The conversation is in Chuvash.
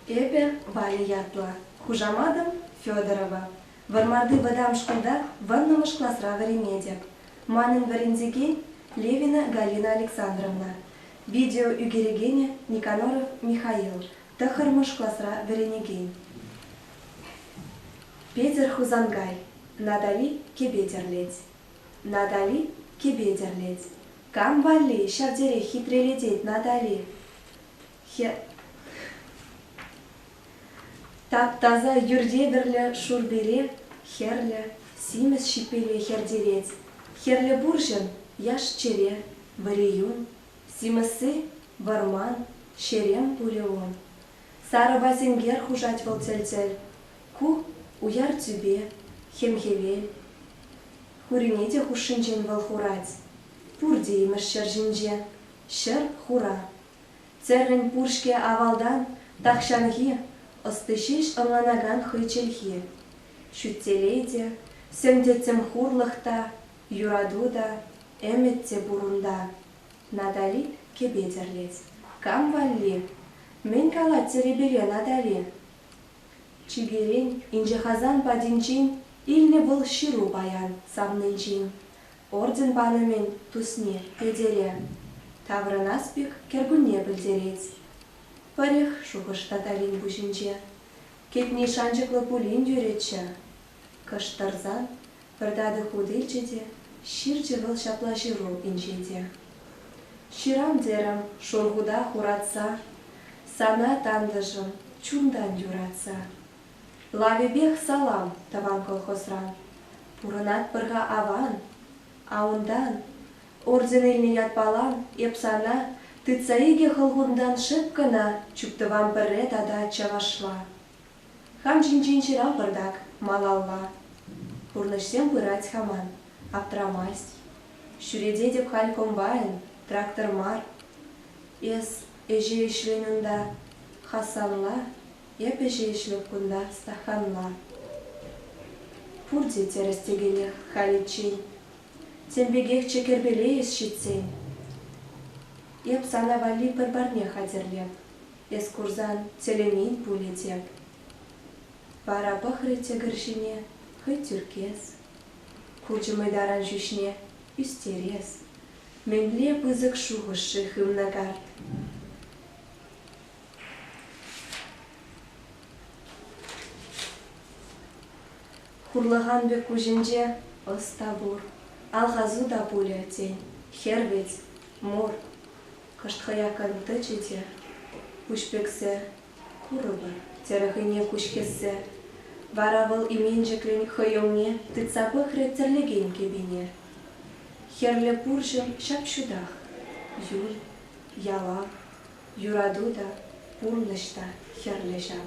Эпӗ Ваня ятла, хушаматӑм Федорова. Вӑрмарти вӑтам шкулта вӑрнӑмӑш класра вӗренетӗп. Манӑн вӗрентекен Левина Галина Александровна, видео ӳкерекенӗ Никоноров Михаил, тӑххӑрмӗш класра вӗренекен. Петӗр Хусанкай, Натали кӗпе тӗрлет. Натали кӗпе тӗрлет. Кам валли ҫав терех хитрелетет Натали? Тап-таса юртевӗрлӗ шурпере хӗрлӗ, симӗс ҫиппеле хӗртерет. Хӗрлӗ пурҫӑн, яш-чӗре, вӗри-юн, симӗсси, вӑрман, ҫерем пулӗ ун. Сарӑпа сенкер хушать вӑл тӗл-тӗл. Ку уяр тӳпе, хӗм-хӗвел. Хурне те хушшинчен вӑл хурать. Пурте имӗш ҫӗр ҫинче, Ҫӗр хура. Церрӗн пур-ҫке авалтан тахҫанхи ӑсти ҫеҫ ӑнланакан хӑй чӗлхи. Ҫӳттелей те, сӗм-тӗттӗм хурлӑх та, юрату та, ӗмӗт те пур унта. Натали кӗпе тӗрлет. Кам валли? Мӗн калать Терепере Натали? Чиперен, инҫе-Хасан патӗнчен илнӗ вӑл ҫыру паян савнинчен. орден палӑмӗн тусне Кӗлтере таврӑнас пек кӗркунне пӗлтерет. Пӗрӗх шухӑш Татарин пуҫӗнче кӗтни шанчӑклӑ пулин юрӗччӗ. Кӑшт тӑрсан пӗр татӑк хут илчӗ те ҫырчӗ вӑл ҫапла ҫыру инҫете. Ҫырам терӗм шур хута хуратса, Сана, тантӑшӑм, чунтан юратса. Лавӗпех салам тӑван колхозран. Пурӑнатпӑр-ха аван. А унтан, орден илнӗ ятпалан эп сана, тытса икӗ хӑлхунтан шӑп кӑна чуптӑвам пӗрре тата чӑвашла. Хам ҫинчен ҫырам пӑртак малалла. Пурнӑҫсем пырать-ха ман, аптрамасть. Ҫӳрететӗп халь комбайн, трактор мар. Эс ӗҫе ӗҫлен унта, Хасанла. Эпӗ ҫеҫ-ҫке кунта стаханла. Пурте тӗрӗс текенех халиччен. Тем пекехчӗ кӗрпеле эс ҫитсен. Эп сана валли пӗр парне хатӗрлеп. Эс курсан тӗлӗнен пулӗ теп. Вара пӑхрӗ тӗкӗр ҫине хӑй тӳркес. Хучӗ мӑйтаран ҫӳҫне ӳстерес. Мӗнле пысӑк шухӑш-ши хывнӑ карт? Хурлӑхан пек куҫӗнче ӑс та пур, алхасу та пулӗ, тен, хӗр вӗт, мур. Кӑшт хӑякан тӑчӗ те, куҫ пӗксе, курӑпӑр, терӗ хӑйне куҫ хӗссе. Вара вӑл именчӗклӗн хӑй умне тытса пӑхрӗ тӗрлекен кӗпине. Хӗрлӗ пурҫӑн ҫап-ҫутах, юн, ялав, Юрату та, пурнӑҫ та хӗрлӗ ҫав.